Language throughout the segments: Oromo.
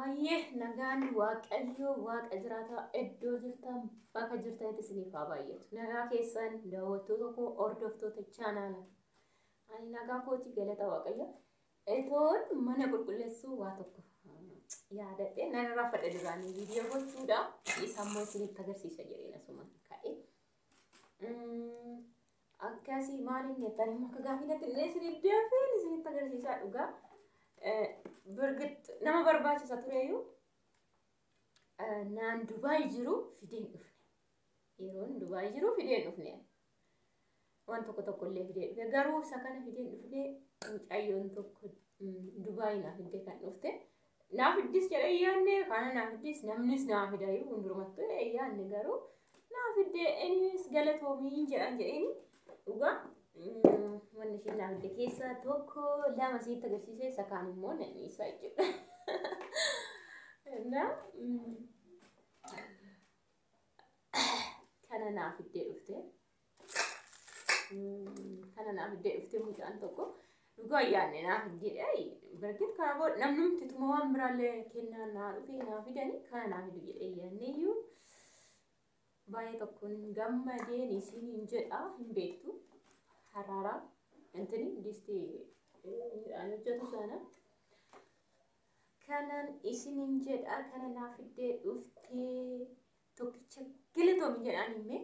Ayyee nagaan waaqayyoo waaqa jiraataa iddoo jirtan bakka jirtanitti isiniif haa baay'atu. Nagaa keessan daawwattoota koo hordoftoota chaanaala. Ani nagaa kooti galata waaqayyo. Etoon mana qulqulleessuu waa tokko yaadadhee nan irraanfadhe duraanii viidiyoo gochuudha. Isa immoo isinitti agarsiisa jedheen asuma ka'e. Akkasii maaliin jettan immoo akka gaaffii natti illee isiniif deebiin isinitti agarsiisaa dhugaa. Birgit nama barbaachisa tureyyuu naan Dubaay jiru fideen dhufne. Yeroon Dubaay jiru fideen dhufne. Waan tokko tokko illee fidee dhufe. Garuu isa kana fideen dhufne mucayyoon tokko Dubaay naaf fidee kan dhufte. Naa fiddis jedhee yaadne kaana naa fiddis namnis naa fida yoo hundurumattu yaadne garuu naa fidde innis galatoomiin jedhan jedheeni dhugaa wanni isheen naa fidde keessaa tokko lama siitti agarsiisee isa kaan immoo nan dhiisaa jechuudha. Naa kana naa fiddee dhufte Kana naaf iddee dhuftee mucaan tokko dhugaa yaadne naaf jedhee bargit kana booda namnumti tuma waan biraallee kennaa naa dhufee naa fidanii kana naaf iddee jedhee yaadneeyyuu baay'ee tokkoon gammadeen isiin hin jedha hin beektu haraaraa intini disti midhaan hojjetu sana kanan isin hin jedha kana naaf iddee dhuftee tokkicha galatoomi jedhaan himmee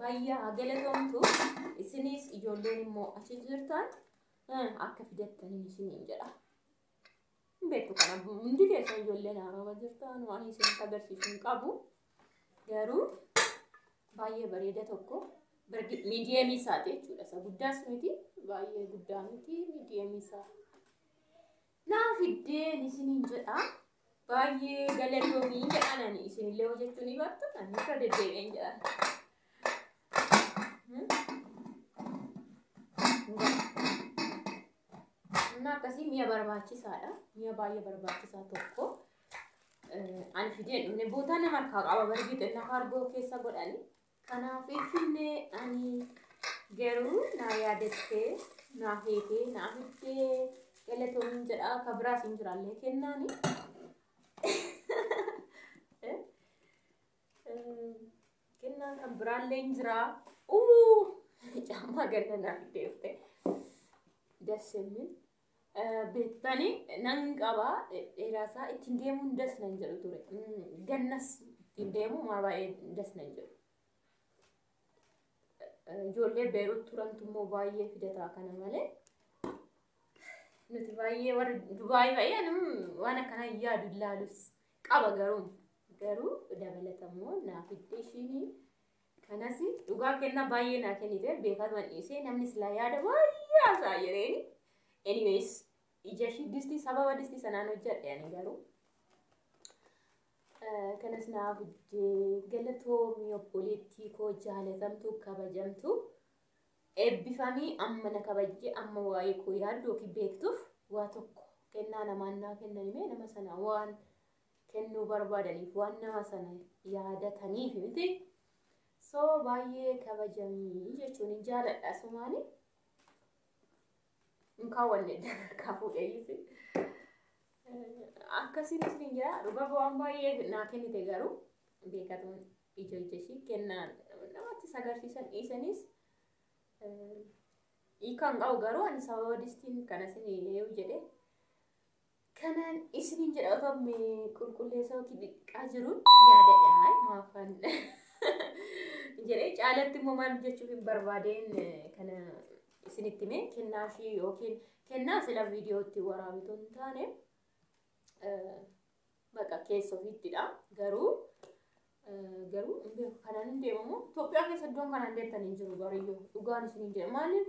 Bayyaa galatoomtu isinis ijoolleen immoo achi jirtan eh, akka fidattaniin isiniin jedha. Hin beeku kana hundi keessan ijoolleen haarawa jirtan waan isinitti agarsiisu hin qabu. Garuu baay'ee bareeda tokko bargi- miidiyeemii isaati jechuudha. Isa guddaas miti baay'ee guddaa miti miidiyeemii isaa. naa fiddeen isiniin jedha baay'ee galatoomii jedhan ani isinillee hojjechuu ni bartu ani irra deddeebi'een jedhan. Humna akkasii mi'a barbaachisaadha. Mi'a baay'ee barbaachisaa tokko. Ani fideen dhumne bootaa nama harkaa qaba barbii xinna kaargoo keessa godhani. Kanaaf Finfinnee ani garuu naa yaadattee, naa feetee, naa fiddee galatoomiin jedhaa ka biraa siin jiraallee kennaani. Kennaan kan biraallee hin jiraa. Uu! Caammaa ganna naa fiddeefte. Das የሚል beektani nan qaba dheeraa isaa ittiin deemuun das nan jedhu ture gannas ittiin deemu maa baay'ee das nan jedhu. Ijoollee Beerut turantu immoo baay'ee fidataa kana malee nuti baay'ee warri Dubaayii baay'ee anum waan akkana yaadu ilaalus qaba garuu garuu dabalatammoo naa fidde ishiinii. Kanas dhugaa kennaa baay'ee naa kennite beekaa turan dhiisee namni silaa yaada baay'ee haasa'a jedheeni. Anyways ija ishii distii sababa distii sanaan hojjedhe ani garuu. Eh, Kanas naa hojjee galatoomii obboleettii koo jaalatamtuu kabajamtuu. Eebbifamii amma na kabajjee amma waa'ee koo yaaddu yookiin beektuuf waa tokko kennaa namaan naa kennanimee nama sana waan kennuu barbaadaniif waan nama sana yaadataniif miti. So baay'ee kabajamii jechuun hin jaaladha sumaani. Hin kaawwanne dadarkaa fuudheeyyiisi. Akkasiin isin jira dhugaa waan baay'ee naa kennite garuu beekatuun ija ija ishii kennaa namatti sagarsiisan dhiisanis hiikaan qabu garuu ani sababa distiin kana isin eeyyuu jedhee Kanaan isiniin jedha otoo me qulqulleessaa yookiin dhiqaa jiruun yaada dhahay maafaan jedhee caalatti immoo maal jechuuf hin barbaadeen kana isinitti mee kennaa ishii yookiin kennaa sila viidiyootti waraabitu hin taane baqa keessa ofiittidha garuu garuu kanaan hin deemamu Itoophiyaa keessa iddoon kanaan deemtan hin jiru bariyyoo dhugaan isiniin jedha maaliif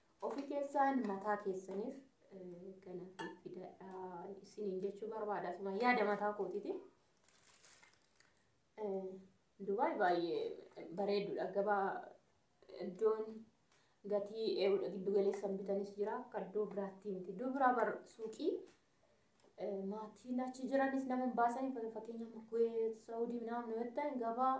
Ofi keessaan mataa keessaniif kana fidadhaa isiniin jechuu barbaada. Asuma yaada mataa kootiiti. Dubaay baay'ee bareedduudha. Gabaa iddoon gatii eewudha giddu galeessan bitanis jira. Akka iddoo biraatti miti. Iddoo biraa bar suuqii maatiin achi jiranis nama hin baasanii fakkeenyaaf Kuweet, Saawudii naannoo yoo ta'an gabaa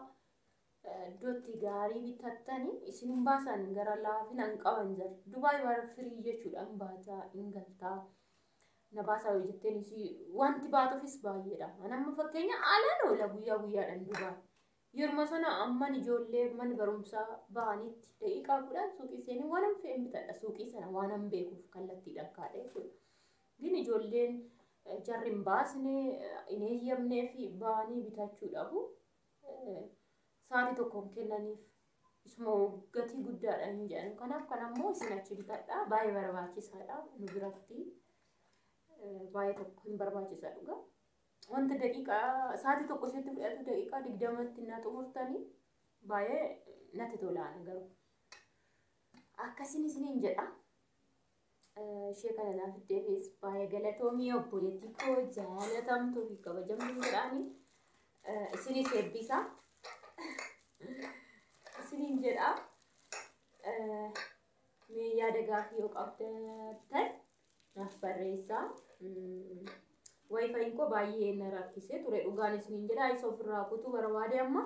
iddootti gaarii bitattani isin hin baasaan gara laafina hin qaban jira. Dubaay bara firii jechuudha hin baataa hin galtaa. Na baasaa yoo jetteen isii wanti baatuufis baay'eedha. Anamma fakkeenya alaan oola guyyaa guyyaadhaan Dubaay. Yeruma sana amman ijoollee mana barumsaa ba'anitti daqiiqaa kudhan suuqii seenii waan hin fe'een bitadha. Suuqii sana waan hin beekuuf kallattiidhaan kaadhee jechuudha. Gin ijoolleen jarri hin baasne hin eeyyamnee fi ba'anii bitachuu dhabu. sa'aatii tokkoon kennaniif isuma gatii guddaadha hin jedhan. Kanaaf kan ammoo isin achi bitadha. Baay'ee barbaachisaadha nu biratti. Baay'ee tokko hin barbaachisa dhugaa. Wanta daqiiqaa sa'aatii tokko isheetti fudhatu daqiiqaa digdamatti na xumurtanii baay'ee natti tolaan garuu. Akkasiin isiniin jedha. ishee kana naa fiddeefis baay'ee galatoomii obboleettii koo jaalatamtuu fi kabajamtuu jedhaani isiniif eebbisaa isiniin jedha mee yaada gaaffii yoo qabdatan naaf barreessaa wayifayin koo baay'ee na rakkisee ture dhugaan isiniin jedha isa ofirraa kutuu barbaade amma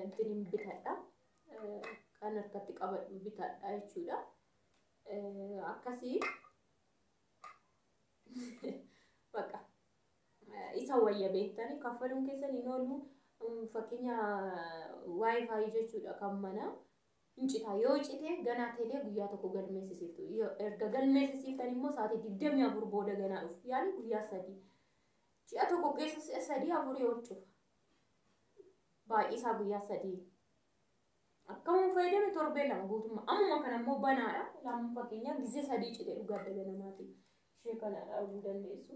intinin bitadha kan harkatti qabadhu bitadha jechuudha. akkasii baqa isa wayya beektanii kaffaluun keessan hin oolu fakkeenya waayifaayi jechuudha kan mana hin cita yoo cite ganaa teelee guyyaa tokko galmeessisiiftu erga galmeessisiiftan immoo sa'aatii digdamii afur booda ganaa dhufu yaani guyyaa sadii ji'a tokko keessa sadii afurii ol cufa baay'isaa guyyaa sadii Akkamuun fayyadame torbee lama guutummaa. Ammuma kana immoo banaadha. Ilaamuun fakkeenyaaf gizee sadii cite dhugaa dhala namaatiin ishee kana dhaabuu dandeessu.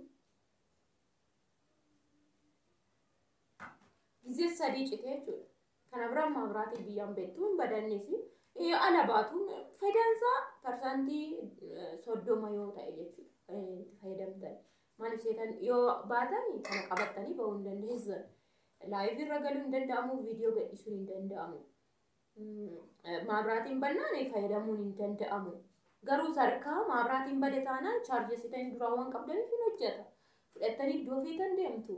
Gizee sadii cite jechuudha. Kana bira ammaa biraatiin biyyaan beektu hin badannees. Ala baatuun faayidaan isaa parsantii soddoma yoo ta'e jechuudha. Kan itti fayyadamtan. Maaliif seetan yoo baatan kana qabattanii bahuu hin dandeessan. Live irra galuu hin danda'amu, viidiyoo gadhiisuun hin danda'amu. Maabraatiin bannaan fayyadamuun hin danda'amu. Garuu sarkaa maabraatiin bade taanaan chaarjessitanii duraa waan qabdaniif hin hojjeta. Fudhattanii iddoo feetan deemtu.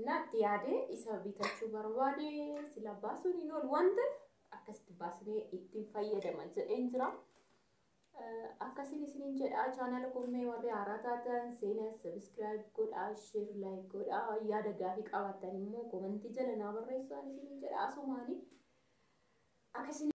Naatti yaade isa bitachuu barbaade sila baasuun hin oolu waan ta'eef akkasitti baasnee ittiin fayyadama jedheen jira. Akkasiin isiniin jedha chaanaala kommee warri haaraa taatan seenaa sabiskiraayib godhaa sheer laayik godhaa yaada gaafii qabaattan immoo komantii jala naa barreessaa isiniin jedha asumaanii akkasiin